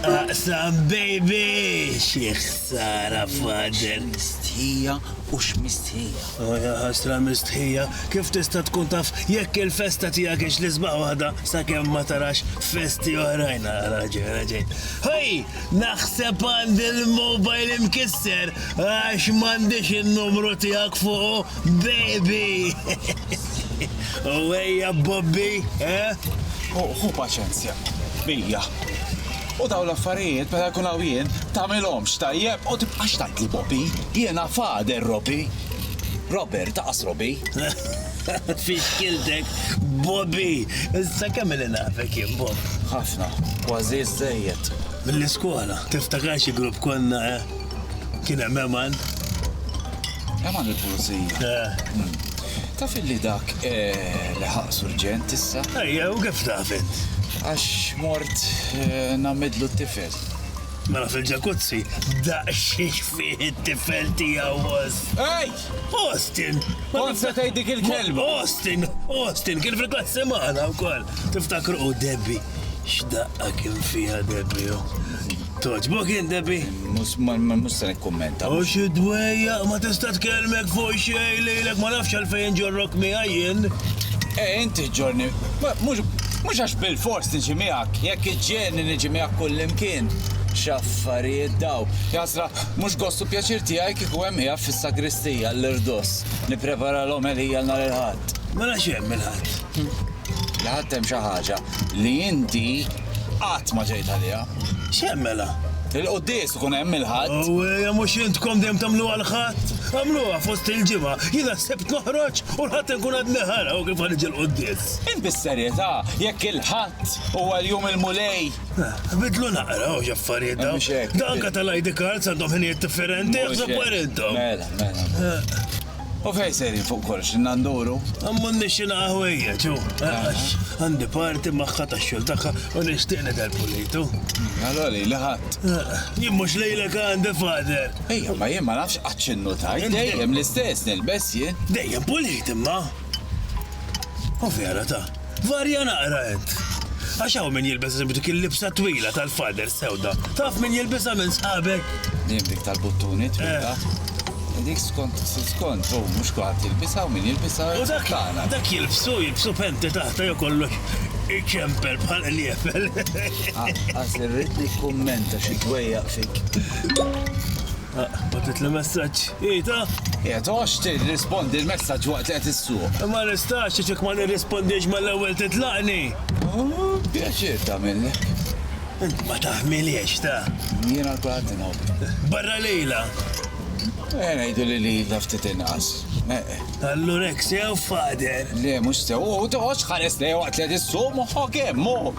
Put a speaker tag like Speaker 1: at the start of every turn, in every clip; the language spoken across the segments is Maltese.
Speaker 1: Aqsam baby! Xi ħsara father! Mistħija
Speaker 2: u x'mistħija. Oh ja ħasra
Speaker 1: mistħija, kif tista' tkun taf jekk il-festa tiegħek hix l-isbaħ waħda sakemm ma tarax festi oħrajn raġel raġel. Ħej, naħseb għandi l-mobile imkisser għax m'għandix in-numru tiegħek fuqu. Baby! U ejja Bobby, eh?
Speaker 2: Hu paċenzja, bija. U daw l-affarijiet meta jkun hawn jien tagħmilhomx tajjeb u tibqax tgħidli Bobby. Jiena fader Robi. Robert, taqas Robi.
Speaker 1: Fixkiltek, Bobby! Issa kemm li nafek jien Bob? Ħafna,
Speaker 2: kważi żejjed. Mill-iskola,
Speaker 1: tiftakar xi grupp konna, eh? Kien hemm Eman.
Speaker 2: Eman il-pulizija. Eh. Hmm. Taf li dak eh, li ħaq surġent issa? Ejja, u kif taf
Speaker 1: int? Għax
Speaker 2: mort eh, namidlu t-tifel. Mela
Speaker 1: fil-ġakuzzi, daqxiex fih it-tifel tiegħu was. Ej!
Speaker 2: Austin!
Speaker 1: Onsa tgħid
Speaker 2: dik il-kelma. Austin, Austin,
Speaker 1: kien fil-klassi magħna wkoll. Tiftakru u Debbie. X'daqqa kien fiha Debbie. Oh. Togħġbok int, Debbie? Mhux ma ma- mhux
Speaker 2: se nikkummenta. U xi dwejja,
Speaker 1: ma tista' tkellmek fuq xejn lilek, ma nafx għalfejn ġorrok miegħi jien. E inti
Speaker 2: ġorni, ma- mhux mhux għax bil-fors niġi miegħek, jekk iġġielni niġi miegħek kullimkien. X'affarijiet daw. Jasra, mhux gost u pjaċir tiegħi kieku hemm qiegħed fis-sagristija l-irdoss nipprepara l-omelija nhar il-Ħadd. Mela x'hemm il-Ħadd?
Speaker 1: li ħadt
Speaker 2: hemm xi ħaġa li inti qatt ma ġejt għaliha. X'hemm mela?
Speaker 1: Il-quddies ikun
Speaker 2: hemm il-Ħadd. Awwejja mhux intkom
Speaker 1: dejjem tagħmluha l-Ħadd? Għamluha fost il-ġimgħa, jiena s-Sibt noħroġ u l-Ħadd inkun għadni ħara u kif ħaniġi l-quddies. Int bis-serjetà
Speaker 2: jekk il-Ħadd huwa l-jum il-Mulej? Bidlu
Speaker 1: naqra hawn x'affarijiet dawn. Mhux hekk. Anke tal-ID
Speaker 2: cards
Speaker 1: għandhom ħinijiet differenti, aħsbu intom. Mela, mela.
Speaker 2: U fejn sejrin fuq kollox, inna nduru? M'għandniex xi naqa'
Speaker 1: ħwejjeġ, hu, għax għandi party magħha tax-xogħol tagħha u nixtieq nidher pulitu. Allura lili
Speaker 2: ħadd. Jien mhux
Speaker 1: lilek għandi, Father. Ejja, ma jien ma nafx
Speaker 2: qatt x'innu tajt, dejjem l-istess nilbes jien. Dejjem pulit imma.
Speaker 1: U vera ta. Varja naqra int. Għax hawn min jilbes eżempju dik il-libsa twila tal-fader sewda. Taf min jilbisha minn sħabek? Dim dik tal-buttuni
Speaker 2: twila. Eh. Dik skont skont, u mhux kulħadd jilbisha u min jilbisha. U dak dak
Speaker 1: jilbsu, jilbsu penti taħta jew kollox iċempel bħal qliefel. Ah, Għaż
Speaker 2: irrid nikkummenta xi dwejjaq fik.
Speaker 1: Batet li messaġġ. Ita? Qiegħed għox
Speaker 2: tirrispondi l-messaġġ waqt li qed issuq. Ma nistax għax jekk
Speaker 1: ma nirrispondix mal-ewwel titlaqni.
Speaker 2: Pjaċir tagħmillek. Int ma
Speaker 1: taħmiliex ta. Jiena l-kulħadd
Speaker 2: inħobb. Barra lejla.
Speaker 1: Eh,
Speaker 2: ngħidu li lilha ftit inqas. Allura
Speaker 1: hekk sew fader. Le, mhux sew, u
Speaker 2: toħodx ħares lejha waqt li qed issuq moħħok hemm, moħħok.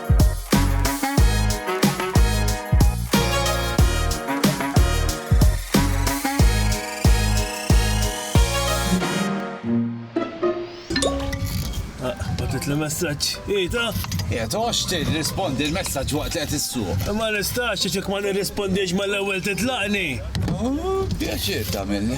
Speaker 1: Batit li messaġġ. Ita? Qiegħed għax
Speaker 2: tirrispondi l-messaġġ waqt li qed issuq. Ma nistax ċek
Speaker 1: ma nirrispondix mal-ewwel titlaqni.
Speaker 2: Pjaċir tagħmilni.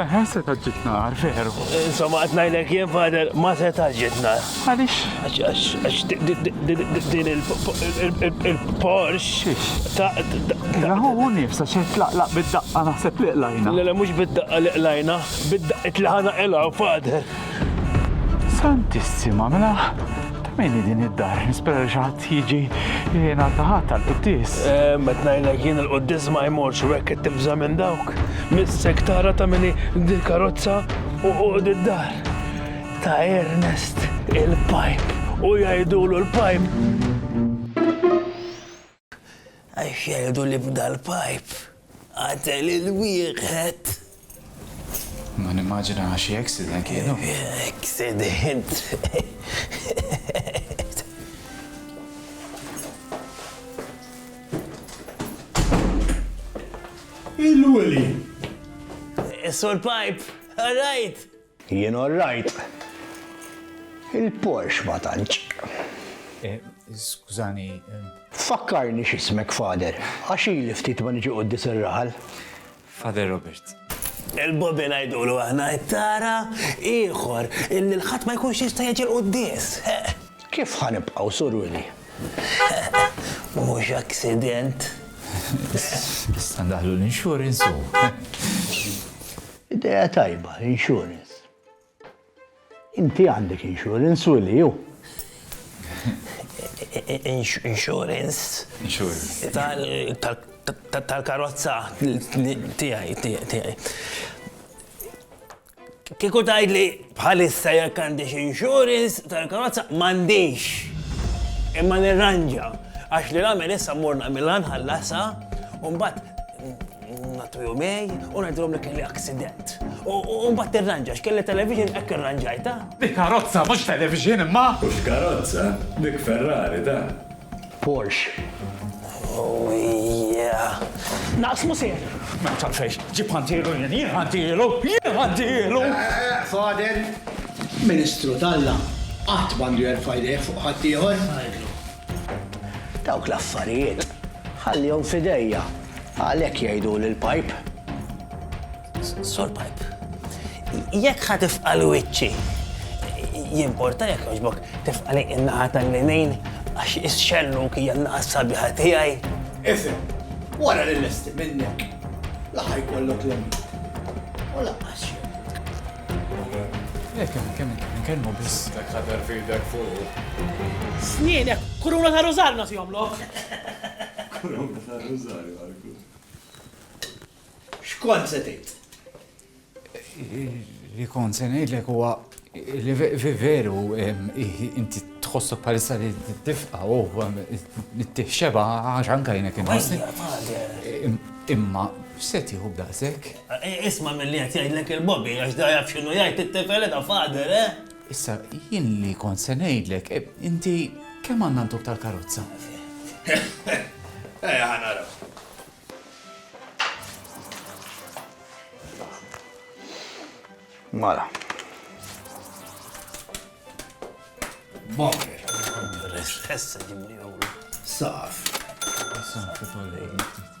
Speaker 1: Eħe, seta'
Speaker 3: ġġib nar, veru. Insomma, qed ngħidlek
Speaker 1: jien fader ma seta' ġġib nar. Għaliex?
Speaker 3: Għax
Speaker 1: din il-Porsche ta'
Speaker 3: Raħu hu nifsa xejn tlaqlaq bid-daqqa naħseb li qlajna. Le le mhux bid-daqqa li
Speaker 1: qlajna, bid-daqqit li ħana qilgħu fader. Santissima,
Speaker 3: mela ta' min din id-dar? Nispera li xi ħadd Jiġi li jingħata ħadd għall-quddies. Ehm, qed ngħidlek jien
Speaker 1: il-quddies ma jmorx u hekk qed tibża' minn dawk. Missek tara ta' mini dil-karozza u d-dar. Ta' Ernest il-pipe u jgħidulu l-pipe. Għax jgħidu li b'dal-pipe qatel il wieħed.
Speaker 2: Ma nimmaġina xi accident kienu. Accident.
Speaker 4: Il-weli. Is-sur
Speaker 1: pipe, all right. Jien orrajt.
Speaker 4: Il-Porsche ma tantx. Skużani.
Speaker 2: Fakkarni
Speaker 4: x'ismek Father, għax ili ftit ma niġi quddies ir-raħal. Father
Speaker 2: Robert. Il-Bobby
Speaker 1: ngħidulu aħna, tara, ieħor illi l-ħadd ma jkunx jista' jiġi l-quddies. Kif
Speaker 4: ħa nibqgħu, Sur Willie? Mhux
Speaker 1: aksident.
Speaker 2: Issa ndaħħlu l-insurance u. Idea
Speaker 4: tajba, insurance. Inti għandek insurance u li ju.
Speaker 1: Insurance. Insurance. Tal-karozza tijaj, tijaj, tijaj. Kiku tajd li bħalissa jek għandix insurance tal-karozza mandix. Imma nirranġa. Għax li għamil issa morna mill-għanħallasa un bat Ngħattu jumej u ngħidilhom li kelli aksident. U mbagħad tirranġa x'kelli television hekk irranġajtha. Hi karozza mhux
Speaker 3: television imma! Mhux karozza,
Speaker 5: dik Ferrari dan. Porsche.
Speaker 1: Oh yeah! Naqsmu
Speaker 3: sew! Ma taf xejn, ġib ħantielu jien, jien ħantielu, jien ħantielu! Fader,
Speaker 4: Ministru t'Alla qatt m'għandu jerfa' jdejh fuq ħaddieħor. Dawk l-affarijiet ħallihom f'idejja, għalhekk jgħiduli l-pajp.
Speaker 1: Sur pajp, jekk ħa tifqal wiċċi, jimporta jekk jogħġbok tifqali in-naħa tal-linejn għax ix-xellu kija n-naħa sabiħa tiegħi. Ifhem,
Speaker 4: wara li lesti minnek, laħaj kollok l-emin. U laqqas
Speaker 2: Jekk hemm kemm nkellmu biss. Dak ħadar fidek
Speaker 5: fuq. Snienek,
Speaker 6: kuruna ta' rużarju nagħtihom lok. Kuruna
Speaker 5: ta' rużarju għalku.
Speaker 4: X'kont se tgħid?
Speaker 2: Li kont se ngħidlek huwa li veru inti tħossu palissa li tifqa u t-tifxeba għax anka jnek Imma x'se tieħu b'daqshekk? Isma' milli
Speaker 1: qed jgħidlek il-Bobby għax da jaf x'inhu jgħid it-tifel eda father, eh? Issa,
Speaker 2: jien li kont se ngħidlek, inti kemm għandna ntuk tal-karozza?
Speaker 4: Ejja ħa naraw. Mala. Bonker.
Speaker 1: Saf.
Speaker 4: Saf.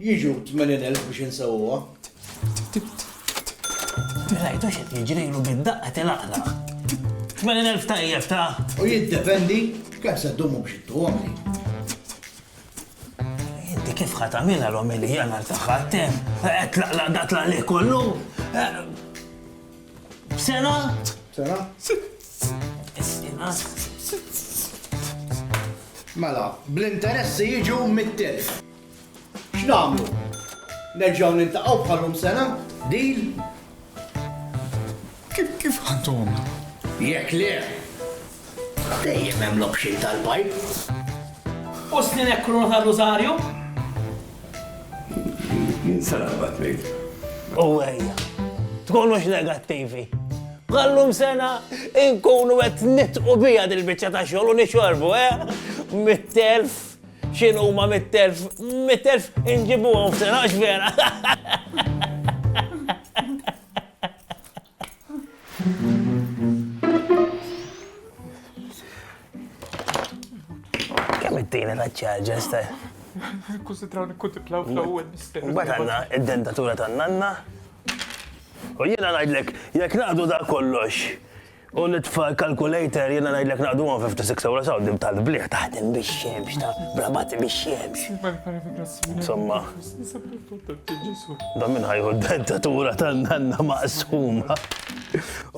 Speaker 1: Jiġu
Speaker 4: 80,000 biex insewwuha.
Speaker 1: Rajtu x'qed jiġrilu bid-daqqa tilaqlaq. 80,000 tajjeb ta'. U jiddependi
Speaker 4: kemm se ddumu biex ittuhom li.
Speaker 1: Inti kif ħa tagħmilha l-omelija nhar tagħha tem, qed tlaqlaq da tlaqlih kollu. Sena? Sena? Sena?
Speaker 4: Mela, bl-interessi jiġu mit-telf. X'nagħmlu? Nerġgħu niltaqgħu bħalhom sena? Deal?
Speaker 2: Kif kif għandhom? Jekk le,
Speaker 4: dejjem hemm l-option tal-bajk.
Speaker 6: U snin hekk kruna ta' Rosario?
Speaker 5: Jien sara bat ngħid. U ejja,
Speaker 1: tkunux negattivi. Għallum sena inkunu qed nitqu bija dil-biċċa ta' xogħol u nixorbu, eh? Mit-telf X'in huma mit-telf, mit-telf inġibuhom f'sena għax vera. Kemm it-tina ta' ċarġa staj? Kusitraw
Speaker 3: nikkutiplaw fl-ewwel mister. Mbagħad għandna id-dentatura
Speaker 1: tan-nanna. U jiena ngħidlek, jekk naqdu da kollox, U l-itfal calculator jiena ngħidlek naqduhom 56 ewro saw dim tal-bliħ taħdem biex xemx ta' brabat biex xemx. Insomma. Da minn ħajħu d-dentatura tan-nanna maqsuma.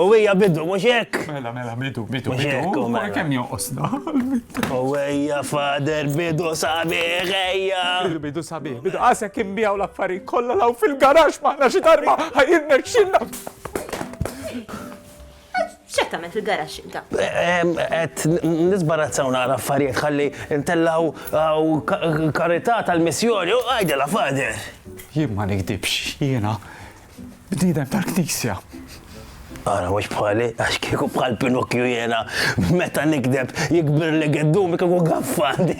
Speaker 1: U hija bidu mhux hekk. Mela mela bidu bidu.
Speaker 3: Mhux hekk u mela.
Speaker 1: Kemm jonqosna.
Speaker 3: U
Speaker 1: hija fader bidu sabiħ ejja. Bidu sabiħ. Bidu
Speaker 3: qasek imbijaw l-affarijiet kollha law fil-garax maħna xi darba ħajirna xinna.
Speaker 7: X'qed tagħmel fil-garax inta? Qed
Speaker 1: nisbarazzaw naqra affarijiet ħalli ntellgħu uh, karità tal-missjoni u għajdela fader. Jien ma nikdibx,
Speaker 3: jiena bniedem tal-knisja.
Speaker 1: Ara, mux bħali, għax kieku bħal Pinocchio jena, meta nikdeb, jikbir li għeddum, kieku għaffandi.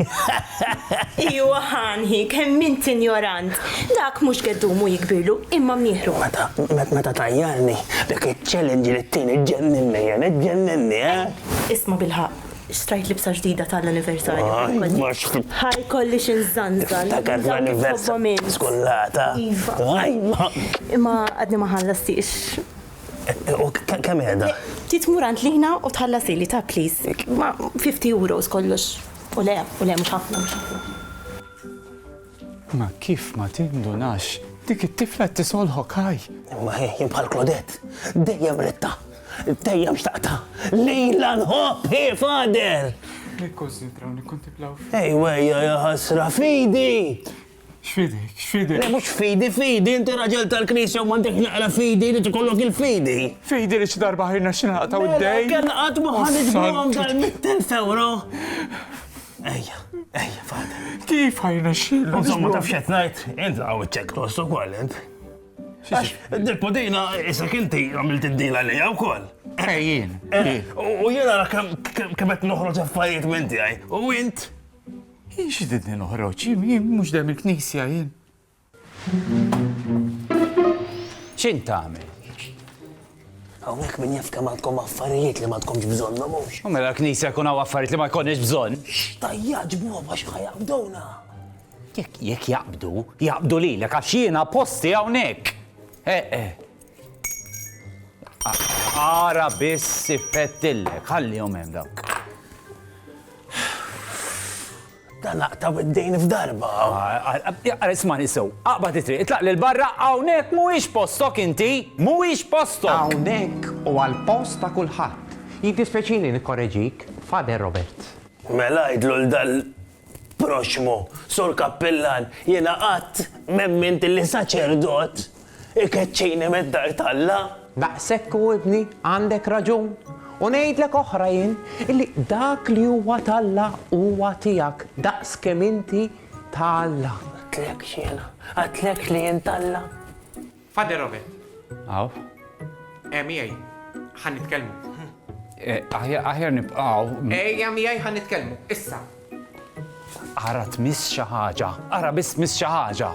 Speaker 7: Iwa Hanhi, kemm int injorant! Dak mhux geddumu jikbirlu, imma mnieħru. Meta
Speaker 1: tajjarni, dak iċ-challenge li tini ġġenninni jien, iġġenninni, eh! Isma'
Speaker 7: bilħaqq, xtrajt libsa ġdida tal-anniversarju. Ħajt ma xħ. Ħa jkolli xi nżanżan. Tiftakar l-anniversarju
Speaker 1: skullata. Iva. Ħajt ma.
Speaker 7: Imma għadni ma ħallastix. U
Speaker 1: kemm qiegħda? Trid tmur għand Lina
Speaker 7: u tħallasili ta' please. Ma 50 euros kollox. U le, u le, mhux ħafna, mhux
Speaker 3: ħafna. Ma kif ma tindunax? Dik it-tifla qed tisolħok ħaj! Ma hi bħal
Speaker 1: Klodett, dejjem ridtha, dejjem xtaqtha, lilha nħobb hi Father! Nikkunsidraw,
Speaker 3: nikkuntiplaw. Ejwejja
Speaker 1: ja ħasra fidi! X'fidek,
Speaker 3: x'fidek? Le mhux fidi,
Speaker 1: fidi, inti raġel tal-Knisja u m'għandek naqra fidi, irid ikollok il-fidi. Fidi li xi darba
Speaker 3: ħajrna xi naqtaw id-dejn. Kellna qatt ma ħa
Speaker 1: niġbuhom dal-mittelf ewro. Ejja, ejja, fada. Kif ħajrna
Speaker 3: xi? Insomma taf x'qed ngħid,
Speaker 1: int hawn iċċekk tost ukoll int. Għax, dil-podina, issa kinti għamilt id-dila li għaw kol. Ejjien.
Speaker 3: U
Speaker 1: jena kemm qed noħroġ affarijiet minn tiegħi. U int Jien
Speaker 3: xididni noħroġ, jien mhux dejjem il-knisja jien.
Speaker 2: X'int tagħmel?
Speaker 1: Hawnhekk min jaf kemm għandkom affarijiet li ma tkomx bżonnhom mhux. U mela l-knisja jkun hawn
Speaker 2: affarijiet li ma jkollniex bżonn. Tajja ġbuhom
Speaker 1: għax ħajabdowna. Jekk
Speaker 2: jekk jaqbdu, jaqbdu lilek għax jiena posti hawnhekk. Eh, eh. Ara biss siffettillek, ħallihom hemm dawn.
Speaker 1: Dan laqtaw id-dejn f'darba. Ara ismani
Speaker 2: sew, aqbad it-triq, itlaq lil barra hawnhekk mhuwiex postok inti, mhuwiex postok. Hawnhekk u
Speaker 8: għall-post ta' kulħadd. Jiddispeċini nikkoreġik, Father Robert. Mela għidlu
Speaker 1: l-dan proxxmu, Sur Kappillan, jiena qatt m'emmint li saċerdot ikeċċini mid-dar t'Alla. Daqshekk hu
Speaker 8: ibni, għandek raġun. U ngħidlek oħra jien, illi dak li huwa t'Alla huwa tiegħek daqs kemm inti ta' Alla. Għidtlekx
Speaker 1: jiena, għidtlekx li jien t'Alla? Father
Speaker 8: Robert.
Speaker 2: Hawn. Eh,
Speaker 8: miegħi. Ħa nitkellmu. Eh,
Speaker 2: aħjar nibqgħu. Ejja miegħi ħa
Speaker 8: nitkellmu. Issa.
Speaker 2: Ara tmiss xi ħaġa. Ara biss miss xi ħaġa.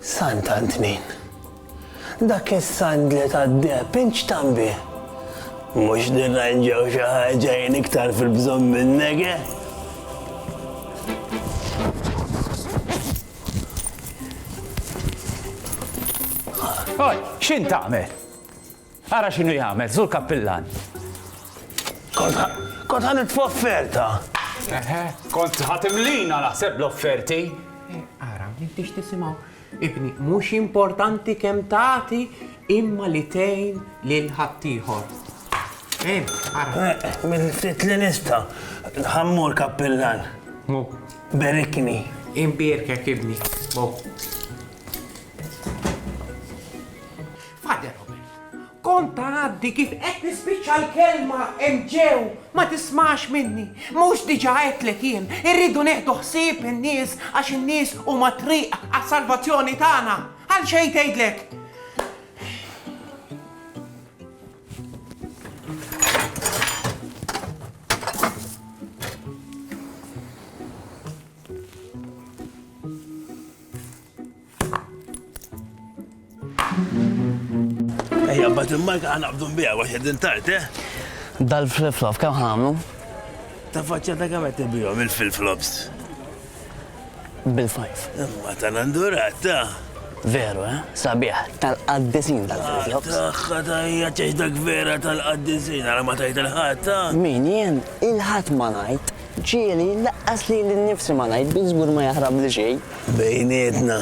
Speaker 1: Sant'Antnin. Dak is-sandli tad-deheb inċtan bih. Mhux nirranġaw xi ħaġa jien iktar fil-bżonn minnek, eh?
Speaker 2: Oj, x'in tagħmel? Ara x'inhu jagħmel, Sur Kappillan!
Speaker 1: Kont ħa nitfa' offerta. Eħe,
Speaker 2: kont ħa
Speaker 8: timlina
Speaker 2: naħseb l-offerti. Ara,
Speaker 8: m'intix
Speaker 2: tisimgħu.
Speaker 8: Ibni, mhux importanti kemm tagħti imma li tgħin lil ħaddieħor. Eh, ara. Minn ftit
Speaker 1: li nista' ħammur kappillan. Mu.
Speaker 8: Berikni.
Speaker 1: Imbierkek
Speaker 8: ibni. Mu. Father Robert, Kont tgħaddi kif qed nispiċċa l-kelma hemm ġew, ma tismax minni. Mhux diġà għedtlek jien, irridu nieħdu ħsieb in-nies għax in-nies huma t-triq għas-salvazzjoni tagħna. Għal xejn tgħidlek.
Speaker 1: Ejja, bat il-marka għana bdun bija, għax għedin tart, eh? Dal-flip-flop,
Speaker 9: kam ħamlu? Ta'
Speaker 1: faċċa ta' kam għetti bijom il-flip-flops?
Speaker 9: Bil-fajf. Imma ta' nandurat,
Speaker 1: ta' Veru, eh?
Speaker 9: Sabiħ, tal-qaddisin tal-flip-flops. Taħħa ta' hija
Speaker 1: ċeċdak vera tal-qaddisin, għara ma tajt il-ħat, ta' Min jien
Speaker 9: il-ħat ma najt. Ġieli, laqqas lili nnifsi ma ngħid, bi żgur ma jaħrabli xejn. Bejnietna,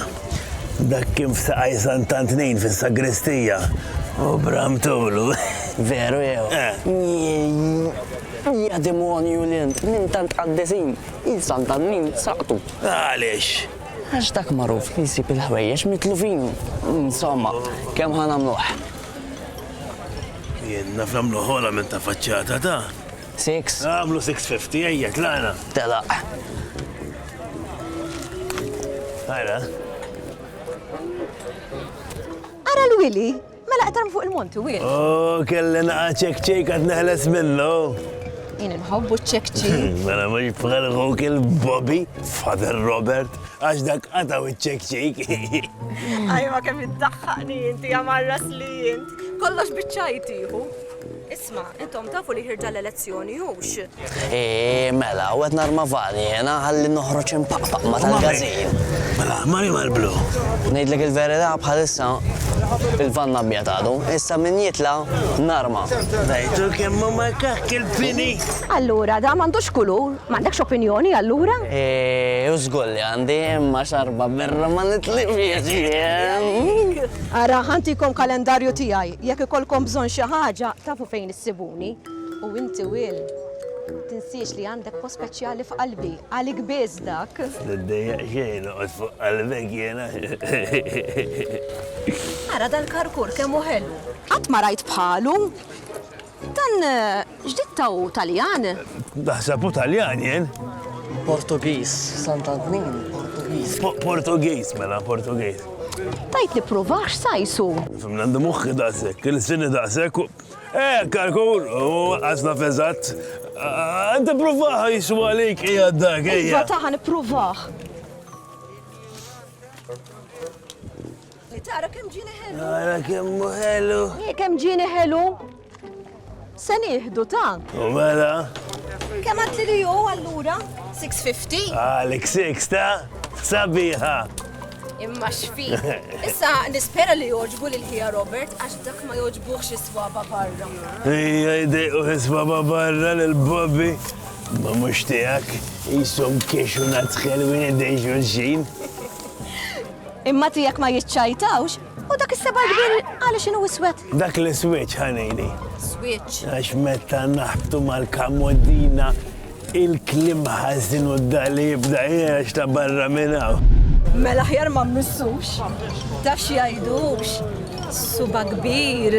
Speaker 1: dak kien f'Saqaj Sant'Antnin fis-sagristija u bram tulu. Veru
Speaker 9: jew? Jiejjii! Ja demonju li int, minn tant qaddisin, il Sant'Antnin saqtu. Għaliex?
Speaker 1: Għax dak
Speaker 9: magħruf li jsib il-ħwejjeġ mitlufin. Insomma, kemm ħa nagħmluh?
Speaker 1: Jien naf nagħmluh ogħla minn ta' faċċata ta'. Six. Għamlu 650, ejja, tlaqna. Telaq. Għara.
Speaker 10: Ara l-wili, mela qtarm fuq il-monti, wil. Oh, kelli
Speaker 1: naqa ċek ċek għad neħles minnu. Jien
Speaker 10: nħobbu ċek ċek. Mela mux bħal
Speaker 1: għuk il-Bobby, Father Robert, għax dak għataw ċek ċek. Ajma
Speaker 10: kemm id-daħħani jinti għamarras li jint. Kollox bieċajtiħu. Isma', intom tafu li ħirġa l-elezzjoni, hux? Eeh,
Speaker 9: mela, u qed narma vali jiena ħalli noħroġ impaqpaq ma' tal-gażin. Mela, mari
Speaker 1: mal-blu. Ngħidlek il-verità
Speaker 9: bħalissa il-vann abjad għadu, issa min jitla' narma. Rajtu
Speaker 1: kemm hu makakk il-fini? Allura, dan
Speaker 10: m'għandux kulur? M'għandekx opinjoni allura? Eeh, u żgur
Speaker 9: li għandi, imma xarba birra ma nitlifhiex jien.
Speaker 10: Ara, ħa ntikom kalendarju tiegħi. Jekk ikollkom bżonn xi ħaġa, tafu fejn issibuni. U inti Will, tinsiex li għandek post speċjali f'qalbi, għalik biss dak. Tiddejjaq xejn,
Speaker 1: noqgħod fuq qalbek jiena.
Speaker 10: Ara dal-karkur kemm hu ħelu! Qatt ma rajt bħalu! Dan ġdid ta' hu Taljan? Naħseb hu
Speaker 1: Taljan jien. Portugiż,
Speaker 9: Sant'Antnin, Portugiż. Portugiż,
Speaker 1: mela, Portugiż. Tajt li
Speaker 10: provax sajsu. Fim għandu muħħi
Speaker 1: daqsek, il-sini daqsek. Eh, kalkul, u għazna fezzat. Għandu provaħ jisu għalik, ija dak, ija. Iva taħan
Speaker 10: provaħ. Li tara kemm ġini
Speaker 1: ħelu. Tara kemm ħelu. Hi kemm ġini ħelu.
Speaker 10: Se nieħdu ta'. U mela.
Speaker 1: Kemm għad li
Speaker 10: ju allura? 650? Għalik 6
Speaker 1: ta' sabiħa. Imma
Speaker 10: xfi. Issa nispera li joġbu lil ħija Robert għax dak ma joġbuħx is-swaba barra. Ija jdejqu
Speaker 1: is-swaba barra lil Bobby. Ma mhux tiegħek jisom kiexu nadħel wien id-dejxu l-xin.
Speaker 10: Imma tiegħek ma jiċċajtawx, u dak is-seba' l-kbir għaliex inhu iswed? Dak l-iswieġ,
Speaker 1: ħanini. Swieġ. Għax
Speaker 10: meta
Speaker 1: naħbtu mal-kamoddina il-klim ħażin u d-dali jibda jgħax ta' barra minn hawn. Mela ħjar
Speaker 10: ma mmissux, ta' xi jgħidux, suba kbir.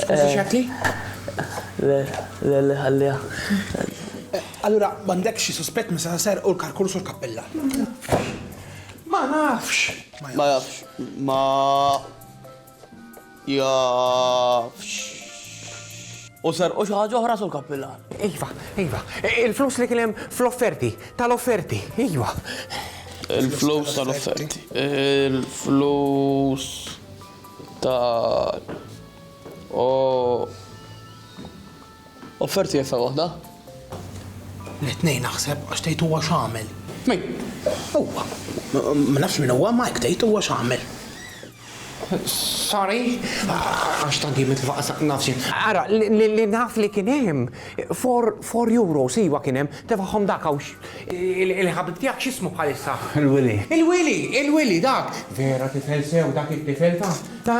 Speaker 8: Skużi x'għedtli? Le,
Speaker 9: le, le, ħalliha.
Speaker 4: Allura m'għandekx xi suspett meta se serqu l-karkurs u l-kappella?
Speaker 8: Ma nafx. Ma jafx.
Speaker 11: Ma jafx. U serqu xi ħaġa oħra, Sur Kappillan? Iva, iva.
Speaker 8: Il-flus li kien hemm fl-offerti, tal-offerti, iva.
Speaker 11: Il-flus tal-offerti. Il-flus. ta' u offerti jeffa waħda?
Speaker 8: L-tnejn naħseb għax tgħid huwa x'għamel. Min? Huwa. Ma nafx min huwa ma hekk tgħid huwa x'għamel. Sorry, għax tant jien mitlufa qasaq nafx. Ara, li naf li kien hemm four euros iva kien hemm, tefagħhom dak hawn Il-ħabib tiegħek x'ismu bħalissa? Il-Willy. Il-Willy! Il-Willy dak! Vera tifel sew dak it-tifel ta'. ta'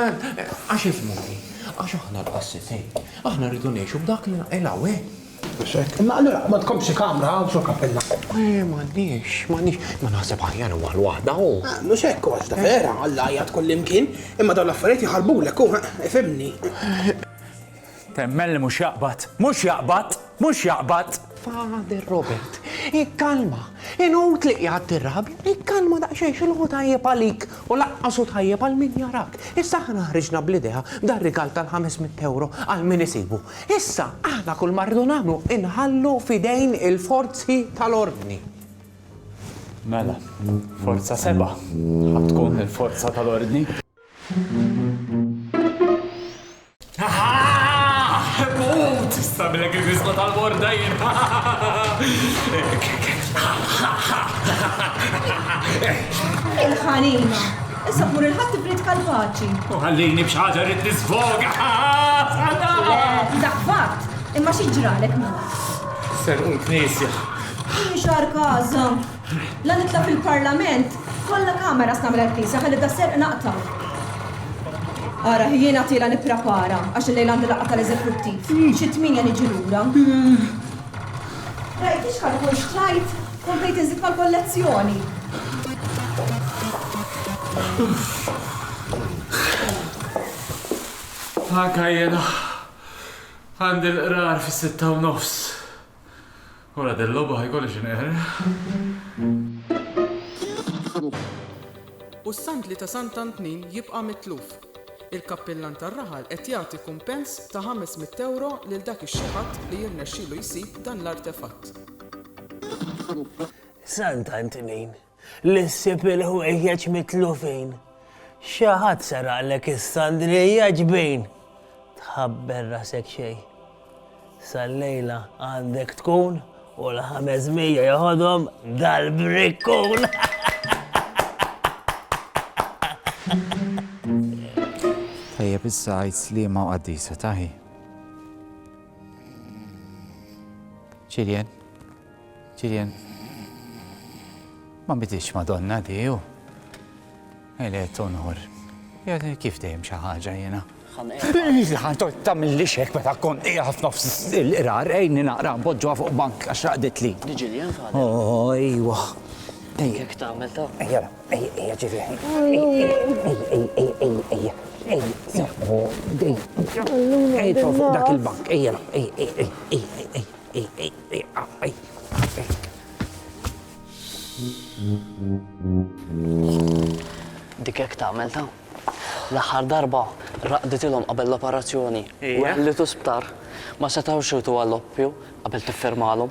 Speaker 8: għax ismu hi. Għax aħna l-qassisin. Aħna rridu ngħixu b'dak li naqilgħu, eh? Mhux hekk. Imma allura ma tkompx xi kamra hawn sur kappella. Eh, m'għandniex, m'għandniex. Ma naħseb aħjar huwa l-waħda hu. Ah, mhux hekk għax ta' vera, Alla jgħid kullimkien, imma dawn l-affarijiet jħarbulek hu, ifhimni. Temmen
Speaker 3: li mhux jaqbad! Mhux jaqbad! Mhux jaqbad! Father Robert,
Speaker 8: ikkalma! Inut li qiegħed tirrabja, ikkalma daqsxejn x'inhu hu tajjeb għalik u lanqas hu tajjeb għal min jarak. Issa aħna ħriġna bl-idea dar-rigal tal-ħames mitt ewro għal min isibu. Issa aħna kull ma rridu nagħmlu inħallu f'idejn il-forzi tal-ordni.
Speaker 3: Mela, Forza Seba' ħa tkun il-forza tal-ordni? Mut! Sabilek il-fisqa tal-borda jien.
Speaker 10: Il-ħanina. Issa tmur il-ħadd tibrid kalpaċi. U ħallini b'xaġa
Speaker 3: rrid nisfoga.
Speaker 10: Dak fatt, imma xi ġralek mut. Serqu
Speaker 3: l-knisja. Xar
Speaker 10: kaza. La nitla' fil-Parlament, kollha cameras nagħmel għall-Knisja ħalli da' serq naqta'. Ara, hi jiena tiela' nipprapara għax illejla għandi laqgħa tal-Eżekuttiv. Xi tmienja niġi lura. Rajt li x'kalkol xtrajt, komplet inżid mal-kollezzjoni.
Speaker 3: Anka jiena għandi l-qrar fis-sitta u nofs. Ora del logħba ħa jkolli x'inqerraq.
Speaker 12: U s-sandli ta' Sant Antnin jibqa' mitluf. Il-kappillan tar-raħal qed jagħti kumpens ta' ħames mitt ewro lil dak ix-xi ħadd li jirnexxilu jsib dan l-artefatt.
Speaker 1: Sant Antnin Li ssib il-ħwejjeġ mitlufin. Xi ħadd seraqlek is-sandrija ġbin. Tħabber rasek xejn. Sal-lejla għandek tkun u l-ħames mija joħodhom dal-brikkun.
Speaker 3: Tajjeb issa għajt slima u qaddisa taħi. Ċiljen. Julian, ma bidilx Madonna di u għelet onor. Jgħadni kif dejjem xi ħaġa jiena. Ħan tort tagħmilli xek meta kon qiegħed nofs il-qrar ejni naqra npoġġuha fuq bank għax raqdet li. Diġilja nfadda.
Speaker 9: Oh, ejwa. Ejjek
Speaker 3: tagħmel ta'. Ejja, ejja, ejja ġivi. Ejja, ejja, ejja. Ejja, ejja, dak il-bank. Ejja, ejja, ejja, ejja, ejja.
Speaker 9: Dik hekk tagħmel ta'. L-aħħar darba raqditilhom qabel l-operazzjoni u għellitu sptar ma setgħux iwtu għall-oppju qabel tiffirmalhom.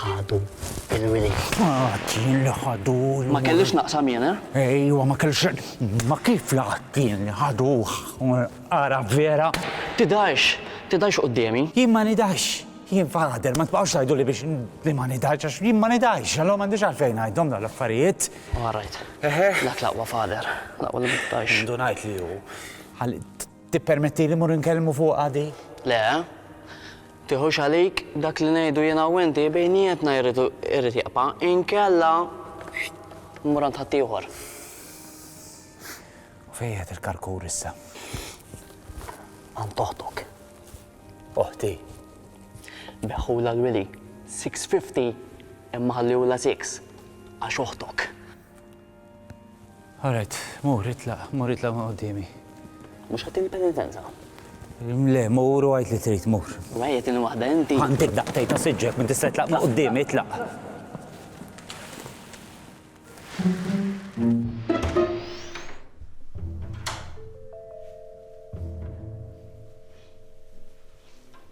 Speaker 9: Ħadu il-wilied. Qatt jien
Speaker 3: li ħadu l-wilied. Ma kellix naqsam
Speaker 9: jien, eh? Ejwa, ma kellix.
Speaker 3: Ma kif li qatt jien li ħaduh? Ara vera. Tidhirx,
Speaker 9: tidhirx quddiemi. Jien ma nidhirx.
Speaker 3: Jien father, ma tbaqgħux tgħiduli biex li ma nidhirx għax jien ma nidhirx, allura m'għandix għalfejn ngħidhom dawn l-affarijiet. All right.
Speaker 9: Dak l-aqwa father, l-aqwa li ma tidhirx. Indunajt li hu.
Speaker 3: Tippermettili mmur inkellmu fuqha dik? Le.
Speaker 9: Tiħux għalik, dak li ngħidu jiena u inti bejnietna jrid irid jibqa', inkella mmur għand ħaddieħor.
Speaker 3: U fejn qiegħed il-karkur issa?
Speaker 9: Għand oħtok.
Speaker 3: Oħti?
Speaker 9: Beħħulha l-wili, 650 imma ħalliewlha 6 għax oħtok. All right,
Speaker 3: mur, itlaq,
Speaker 9: mur itlaq minn
Speaker 3: quddiemi. Mhux ħattini
Speaker 9: penitenza?
Speaker 3: Le, mur u għid li trid, mur. Wejjetini waħda inti.
Speaker 9: Għandik daqtej ta' siġġek
Speaker 3: minn tista' itlaq minn quddiemi, itlaq.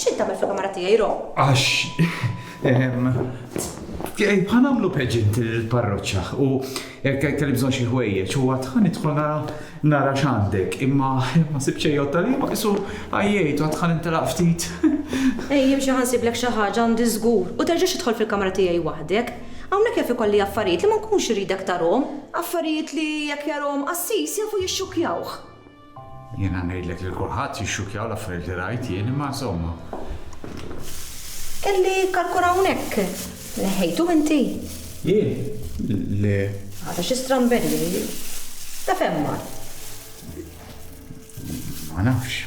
Speaker 10: X'int tagħmel fil-kamra tiegħi, Ro? Għax.
Speaker 2: Ehm, Ħanamlu peġint il-parroċċa u kelli bżonn xi ħwejjeġ u għad ħanidħol nara nara x'għandek imma ma sib xejn jotta li ma qisu għajjejt u għad ħanintelaq ftit. Ej, jimxi
Speaker 10: ħansiblek xi ħaġa għandi żgur u terġax idħol fil-kamra tiegħi waħdek. Hawnhekk jaf ikolli affarijiet li ma nkunx iridek tarahom. Affarijiet li jekk jarahom qassis jafu jixxukkjawh. Jiena
Speaker 2: ngħidlek lil kulħadd jixxukkjaw l-affarijiet li rajt jien imma insomma.
Speaker 10: Kelli karkun hawnhekk. Neħħejtu inti? Jien?
Speaker 2: Le. Għadha xi stramberija
Speaker 10: hi. Ta' fejn mar?
Speaker 2: Ma nafx.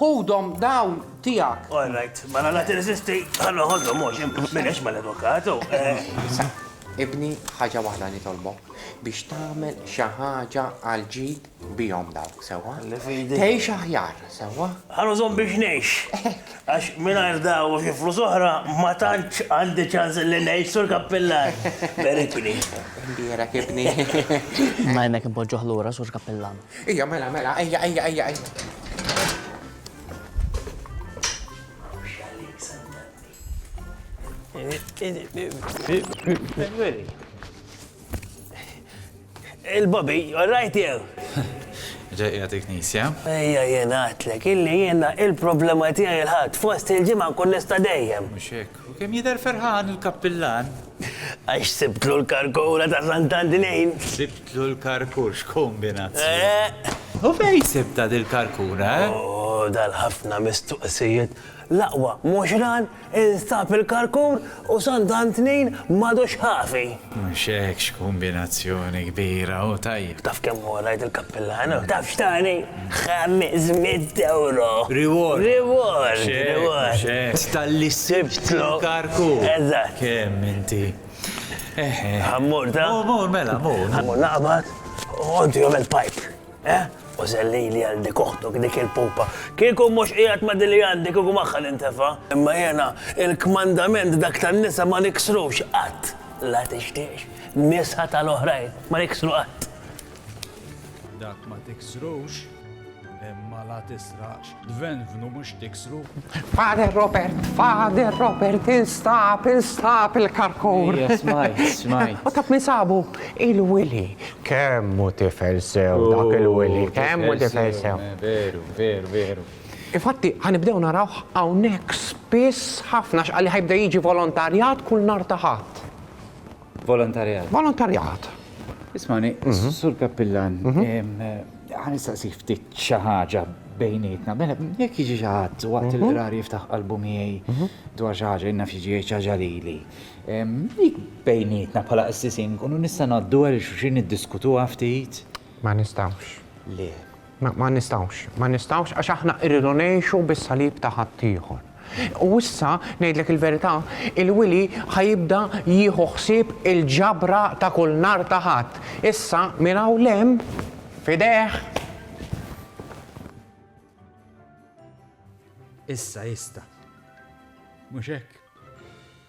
Speaker 8: Ħudhom dawn tiegħek. All right, mela la
Speaker 1: tirreżisti, ħa noħodhom mhux, m'inhiex mal-avukatu. Issa,
Speaker 8: ibni, ħaġa waħda nitolbok, biex tagħmel xi ħaġa għal ġid bihom dawk, sewwa? Tgħix aħjar, sewwa? Ħa nużhom biex ngħix.
Speaker 1: Hekk. Għax mingħajr dawn u xi flus oħra ma tantx għandi ċans li ngħix, Sur Kappillan. Berikni. Imbierek,
Speaker 8: ibni. Imma
Speaker 9: hemmhekk inpoġġuh lura, Sur Kappillan.
Speaker 8: Ejja
Speaker 1: mela mela ejja ejja ejja ejja. Il-Bobby, all right jew? Ġejja
Speaker 2: dik nisja. Ejja jien
Speaker 1: għatlek, illi jiena il-problema tiegħi l-ħadd fost il-ġimgħa nkun nista' dejjem. Mhux hekk. U kemm
Speaker 2: jidher ferħan il-kappillan. Għax
Speaker 1: sibtlu l-karkura ta' Sant'Antinejn. Sibtlu
Speaker 2: l-karkur, x'kombinazzjoni! U fejn sibtha dil-karkura, eh? Oh,
Speaker 1: dal-ħafna mistoqsijiet! L-aqwa mhux ran instab il-karkur u Sant'Antnejn m'għadux ħafi! Mhux hekk
Speaker 2: x'kumbinazzjoni kbira u tajjeb. Taf kemm hu rajt
Speaker 1: il-kappillan u taf x'tani? Ħames mitt ewro! Reward!
Speaker 2: Reward! Mhux hekk,
Speaker 1: mhux hekk. Talli
Speaker 2: sibtlu karku! Eżatt! Kemm
Speaker 1: inti.
Speaker 2: Eħe.
Speaker 1: Ħa mmur ta? Mur, mur, mela, mur.
Speaker 2: Ħa mmur naqbad
Speaker 1: u inti għamel pipe. Eh? U zellili għal dik oħtok dik il-pupa. Kieku mhux qiegħed ma' dili għandi kieku magħha nintefa'. Imma jiena il-kmandament dak tan-nisa ma niksrux qatt. La tixtiex nisa tal-oħrajn ma niksru qatt.
Speaker 3: Dak ma tiksrux imma la tisrax. Dvenvnu mhux tiksru. Father
Speaker 8: Robert, Father Robert, instab, instab il-karkur. Smaj, smaj.
Speaker 3: U taf min sabu?
Speaker 8: Il-Willy. Kemmu tifel sew oh, dak il-Willy, kemmu tifel sew. Eh, veru, veru, veru.
Speaker 3: Infatti,
Speaker 8: ħanibdew naraw hawnhekk spiss ħafna x'qalli ħajbda jiġi volontarjat kull nar taħat. Volontarjat. Volontarjat. Ismani, mhm.
Speaker 3: sur kappillan, mhm. għan istaqsik ftit xaħġa bejnietna, mela, jek jiġi xaħat waqt mhm. il-qrar jiftaħ qalbu miegħi dwar xaħġa, jenna fiġi xaħġa li li. Dik bejnietna bħala qassisin, kunu nista' naddu għal xuxin id-diskutu ftit. Ma nistawx.
Speaker 8: Le.
Speaker 3: Ma nistgħux,
Speaker 8: ma nistgħux għax aħna rridu ngħixu bis-salib ta' ħaddieħor. U issa, ngħidlek il-verità, il-Wili ħa jibda jieħu ħsieb il-ġabra ta' kull nhar ta' Ħadd. Issa, minn hawn 'l hemm, f'idejh.
Speaker 3: Issa jista'. Mhux hekk?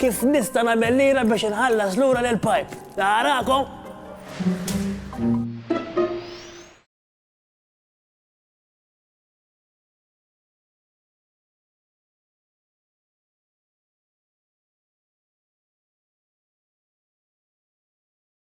Speaker 1: Kif nista' nagħmel lira biex inħallas lura lil Pipe? Narakom!